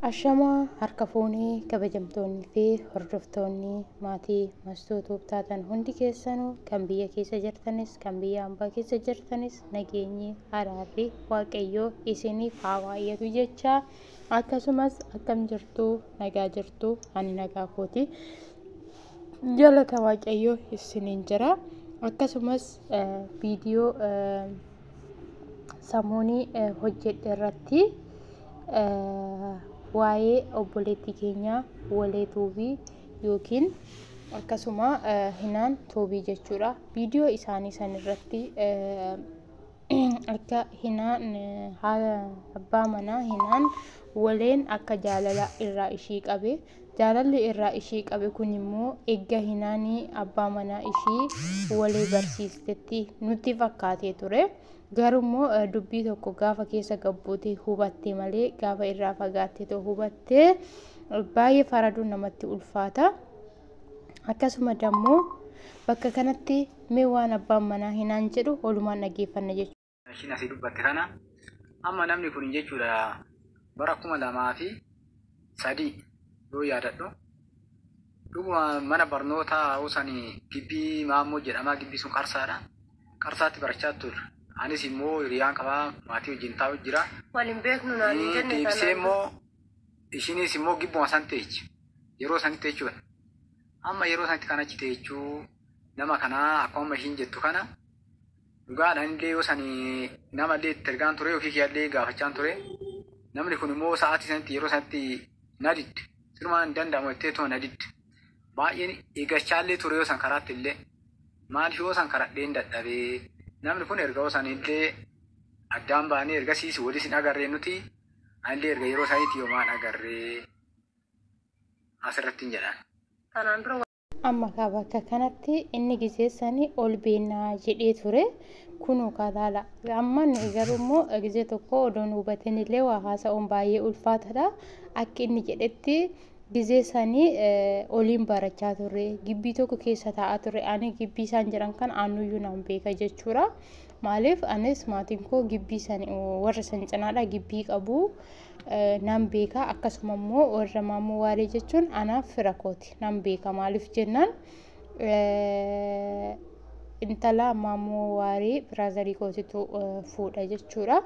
Ashamaa harka fuunee kabajamtoonni fi hordoftoonni maatii Mastuu Tuub taatan hundi keessanuu kan biyya keessa jirtanis kan biyya ambaa keessa jirtanis nageenyi araarri waaqayyoo isiniif haa baay'atu jechaa akkasumas akkam jirtuu nagaa jirtuu ani nagaa kooti jalata waaqayyoo isiniin jira akkasumas viidiyoo samuunii hojjedhe irratti waa'ee obboleettii keenyaa walee tuubii yookiin akkasuma hinaan tuubii jechuudha. Viidiyoo isaanii san irratti akka hinaan abbaa manaa hinaan waleen akka jaalala irraa ishii qabee Jaalalli irraa ishee qabe kun immoo egga hinaani abbaa manaa ishii wali barsiistetti nutti fakkaatee ture. Garuu immoo dubbii tokko gaafa keessa gabbuutee hubatte malee gaafa irraa fagaattee too hubatte baay'ee faraduun namatti ulfaata. Akkasuma dammoo bakka kanatti mee waan abbaan manaa hinaan jedhu olumaan dhageeffanna jechuudha. ishiin asii dubbatte kana amma namni kun jechuudha bara kuma lamaa fi sadii yoo yaadadhu dhuguma mana barnootaa usanii gibbii maammoo jedhamaa gibbii sun qarsaadha qarsaatti barachaa turre anis immoo hiriyaan qabaa maatii wajjin taa'u jira Waliin beeknu naan hin jenne deebisee kanaan. immoo ishiinis immoo gibbuma san teechi yeroo sanitti jechuudha amma yeroo sanitti kan achi teechuu nama kanaa akkuma amma ishiin jettu kana Dhugaadha innillee yoo sani namallee itti ergaan ture ofii kiyyallee gaafachaan ture. Namni kun immoo sa'aatii sanatti yeroo sanatti na didde. Sirumaa hin danda'amu jettee tuma na didde. Baay'een eeggachaallee ture yoo san karaatti illee. Maaliif yoo san karadheen dadhabee. Namni kun erga yoo san illee addaan baanee ergasiis waliis hin agarree nuti. Anillee erga yeroo saniitti yomaan agarree asirratti hin jedhan. Kanaan dura Amma kaa bakka kanatti inni gizee sanii ol beennaa jedhee ture. Kunuu kaa laala. Amma nuyi garuu immoo gizee tokko odoo nu hubatin illee waa haasa'uun baay'ee ulfaatadha. Akki inni jedhetti gizee sanii oliin barachaa turre. Gibbii tokko keessa taa'aa turre. Ani gibbii isaan jiran kan aannuyyuu naan beeka jechuudha. Maaliif anis maatiin koo gibbii sanii warra san cinaadha gibbii qabu. nan beeka akkasuma immoo warra maammoo waalee jechuun anaaf fira kooti nan beeka maaliif jennaan intala maammoo waalee biraazarii kootitu fuudha jechuudha.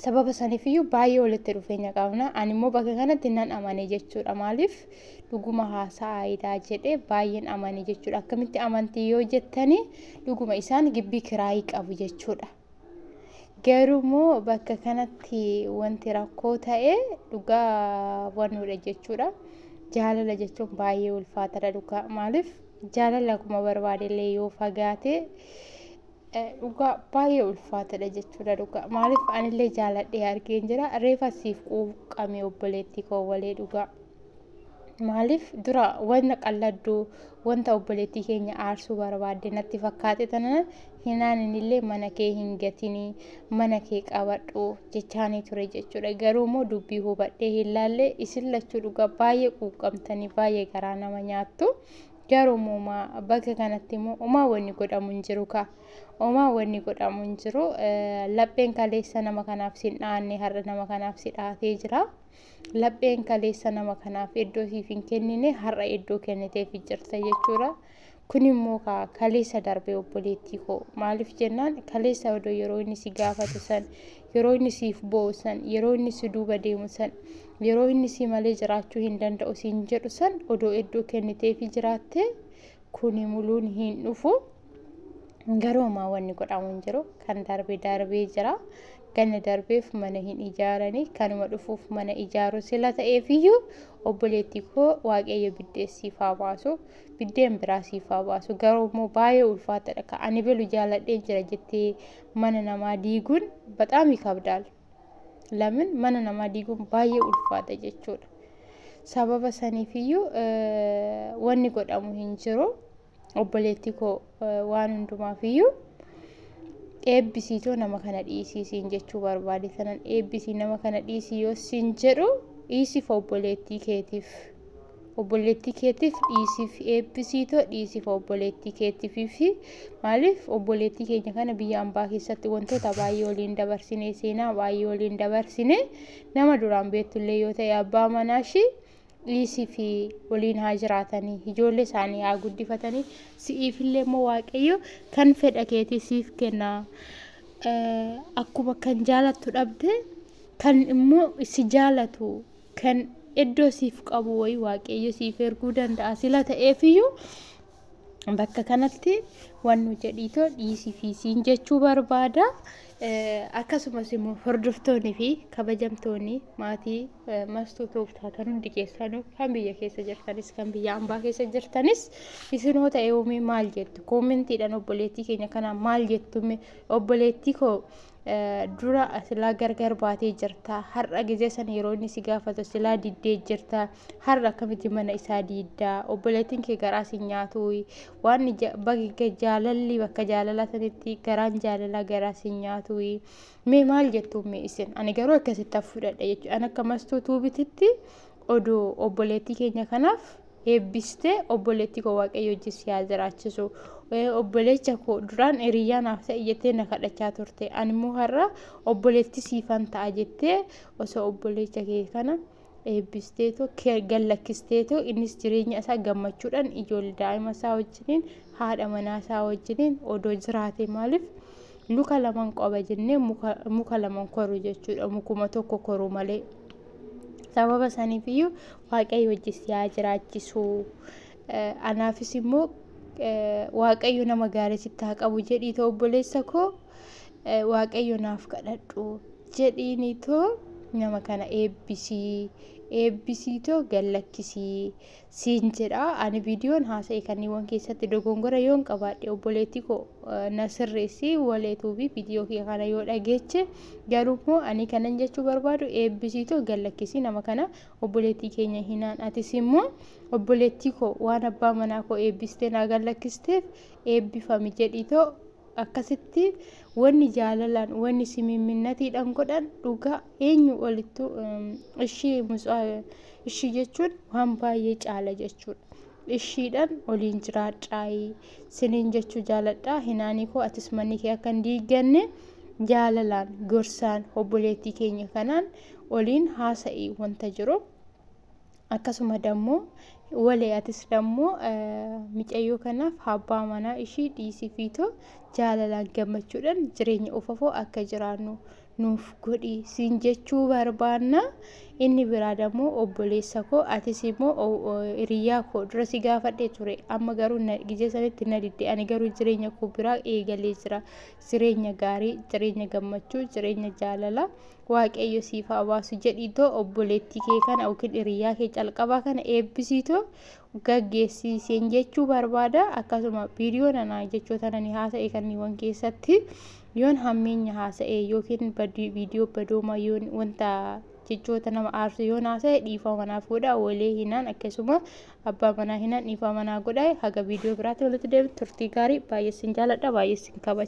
Sababa saniifiyyuu baay'ee walitti dhufeenya qabna. Ani immoo bakka kanatti nan amane jechuudha. Maaliif dhuguma haasa'aayidha jedhee baay'een amane jechuudha. Akkamitti amantii yoo jettanii dhuguma isaan gibbii kiraayii qabu jechuudha. Garuu immoo bakka kanatti wanti rakkoo ta'e dhugaa hubannuudha jechuudha. Jaalala jechuun baay'ee ulfaataadha dhugaa. Maaliif jaalala akkuma barbaade illee yoo fagaate eh, dhugaa baay'ee ulfaataadha jechuudha dhugaa. Maaliif anillee jaaladhee argeen jira. Reefa siif quuqqame obboleettii koo walee dhugaa. Maaliif dura wanta qalladdu wanta obboleettii keenya aarsuu barbaadde natti fakkaate tanan hinaaninillee mana kee hin gatini mana kee qabadhu jechaanii ture jechuudha garuu immoo dubbii hubadhee hin laalle isin lachuu dhugaa baay'ee quuqqamtanii baay'ee garaa nama nyaattu garuu immoo maa bakka kanatti immoo omaa wanni godhamu hin jiru kaa omaa wanni godhamu hin jiru Eh, lapheen kaleessa nama kanaaf sin dhaanne har'a nama kanaaf si dhaatee jira lapheen kaleessa nama kanaaf iddoo siif hin kennine har'a iddoo kenniteef jirta jechuudha Kun immoo kaa kaleessa darbe obboleettii koo maaliif jennaan kaleessa odoo yeroo inni si gaafatu san yeroo inni siif boo'u san yeroo inni si duuba deemu san yeroo inni si malee jiraachuu hin danda'u siin jedhu san odoo iddoo kenniteefi jiraatte kuni muluun hin dhufu garuu ammaa wanni godhamu hin jiru kan darbe darbee jira ganna darbeef mana hin ijaaranii kanuma dhufuuf mana ijaaru sila ta'eefiyyuu obboleettii koo waaqayyo biddeessiif haa baasu. biddeen biraa siif haa baasu garuu immoo baay'ee ulfaatadha ka ani belu jaaladheen jira jettee mana namaa diiguun baxaamii kabdaal lamin mana namaa diiguun baay'ee ulfaata jechuudha sababa saniifiyyuu wanni godhamu hin jiru obboleettii koo waan hundumaaf iyyuu eebbisiitoo nama kana dhiisii siin jechuu barbaade tanan eebbisii nama kana dhiisii yoo siin jedhu dhiisiif obboleettii keetiif obboleettii keetiif dhiisiif eebbisiitoo dhiisiif obboleettii keetiif fi maaliif obboleettii keenya kana biyya ambaa keessatti wantoota baay'ee waliin dabarsine seenaa baay'ee waliin dabarsine nama duraan beektullee yoo ta'e abbaa manaa ishii dhiisii fi waliin haa jiraatanii ijoollee isaanii haa guddifatanii si'iif illee immoo waaqayyo kan fedha keetii siif kenna akkuma kan jaalattu dhabde kan immoo si jaalatu kan iddoo siif qabu wayii waaqayyo siif erguu danda'a sila ta'eefiyyuu bakka kanatti waan nu jedhiitoo dhiisii fi siin jechuu barbaada. Akkasumas immoo hordoftoonni fi kabajamtoonni maatii mastuu tooftaa kan hundi keessanuu kan biyya keessa jirtanis kan biyya ambaa keessa jirtanis isinoo ta'e uumee maal jettu koomentiidhaan obboleettii keenya kanaa maal jettume obboleettii koo dura silaa gargar baatee jirta har'a gizee san yeroo inni si gaafatu silaa diddee jirta Har'a akkamitti mana isaa diidda? Obboleettiin kee garaa si nyaatuuyi. Waan bakka jaalalli bakka jaalalaa sanitti garaan jaalalaa garaa si nyaatuuyi. Mee maal jettu mee isin? Ani garuu akkasitti fudhadha jechuudha. Ani akka mastuu tuubititti oduu obboleettii keenya kanaaf eebbistee obboleettii koo waaqayyo wajjin si haa jiraachisu. Obboleecha koo duraan hiriyaa naaf ta'e jettee na kadhachaa turte. Ani immoo har'a obboleettii siifan ta'a jettee osoo obboleecha kee kana eebbisteetu gad lakkisteetu innis jireenya isaa gammachuudhaan ijoollee daa'ima isaa wajjiniin haadha manaa isaa wajjiniin odoo jiraate maaliif luka laman qaba jennee muka laman koru jechuudha mukuma tokko koru malee sababa saniif iyyuu waaqayyo wajji si haa jiraachisu anaafis immoo waaqayyo nama gaarii sitti haa qabu jedhiitoo obboleessa koo waaqayyo naaf kadhadhu jedhiiniitoo nama kana eebbisii eebbisiitoo gallakkisii siin jedha ani viidiyoon haasa'e kanniiwwan keessatti dogongora yoon qabaadhe obboleettii koo na sirreessi waleetuubii viidiyoo kee kana yoo dhageeche garuu immoo ani kanan jechuu barbaadu eebbisiitoo gallakkisii nama kana obboleettii keenya hinaan atis immoo obboleettii koo waan abbaa manaa koo eebbistee naa gallakkisteef eebbifami jedhiitoo Akkasitti wanni jaalalaan, wanni simimminnatiidhaan godhan dhugaa eenyu olittu ishii ishii jechuun waan baay'ee caala jechuudha. Ishiidhaan oliin jiraadhaayii siniin jechuu jaaladhaa hinaanii koo atis manni kee akka hin diigganne jaalalaan gorsaan obboleettii keenya kanaan oliin haasa'ii wanta jiru. akkasuma dammoo walee atis dammoo micayyoo kanaaf abbaa manaa ishii dhiisii fiitoo jaalalaan gammachuudhaan jireenya ufafoo akka jiraannu nuuf godhi siin jechuu barbaanna inni biraa dammoo obboleessa koo atis immoo hiriyyaa koo dura si gaafadhee ture amma garuu gijee sanitti na didde ani garuu jireenya koo biraa eegalee jira jireenya gaarii jireenya gammachuu jireenya jaalalaa Waaqayyo siif haa baasu jedhiitoo obboleettii kee kana yookiin hiriyaa kee calqabaa kana eebbisiitoo gaggeessiiseen jechuu barbaada akkasuma viidiyoo nana jechoota nani haasa'e kanniiwwan keessatti yoon hammeenya haasa'e yookiin viidiyoo badooma yoon wanta jechoota nama aarsu yoon haasa'e dhiifama manaaf godha walee hinaan akkasuma abbaa manaa hinaan dhiifama manaa godha haga viidiyoo biraatti walitti deebiin turtii gaarii baay'ee sin jaaladha baay'ee sin kabaja.